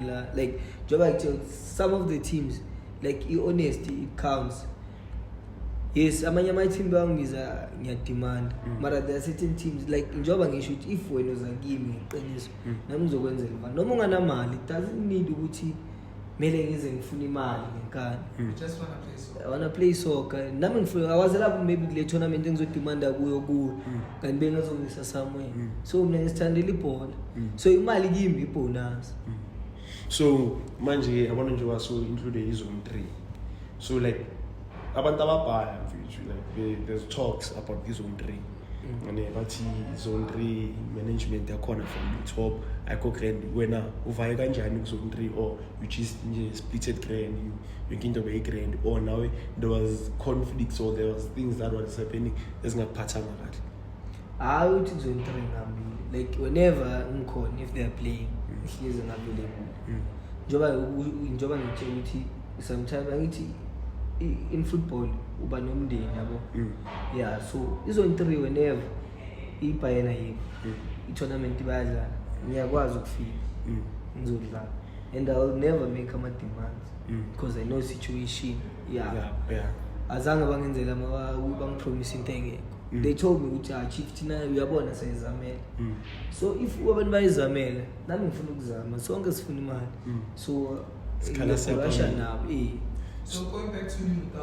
la like njengoba kuthiwa some of the teams like i-honesty it counts yes amanye ama-team bawangiza ngiyadimanda mm. mara there are certain teams like njengoba ngisho ukuthi if wena uza kimi ngeqiniso mm. nami ngizokwenzela imali noma unganamali it doesn't need ukuthi kumele ngize ngifune imali ngenkani mm. I wanna play soccer. Nami ngifuna awazela ku maybe kule tournament engizodimanda kuyo kuyo. Mm. Kanti bengazongisa somewhere. Mm. So mina ngisithandela ibhola. Mm. So imali kimi ibonus. Mm. So manje yabona nje waso include izone 3. So like abantu ababhala mfethu like there's talks about izone 3. ane bathi zone three management yakhona from the top ayikho grand wena uvaye kanjani kuzone three or you just nje splitted grand yonke into beyi-grand or nawe there was conflicts or there was things that was happening ezingakuphathanga kahle hayi uthi kuzone three ngambili like whenever ngikhona if they're playing mm. ngihlezi ngambili mm. njengoba njengoba ngitshela ukuthi sometimes angithi in football uba nomndeni yabo mm. ya so izoyintriwe never ibhayena yikho mm. i-tournament bayadlala ngiyakwazi ukufika mm. ngizodlala and i will never make ama-demands mm. because i know situation ya azange bangenzela bangipromise into engekho they told me ukuthi achief ah, thina uyabona sayizamela so if abantu bayizamela nami ngifuna ukuzama sonke sifuna imali so ngiyakholasha nabo so going back to you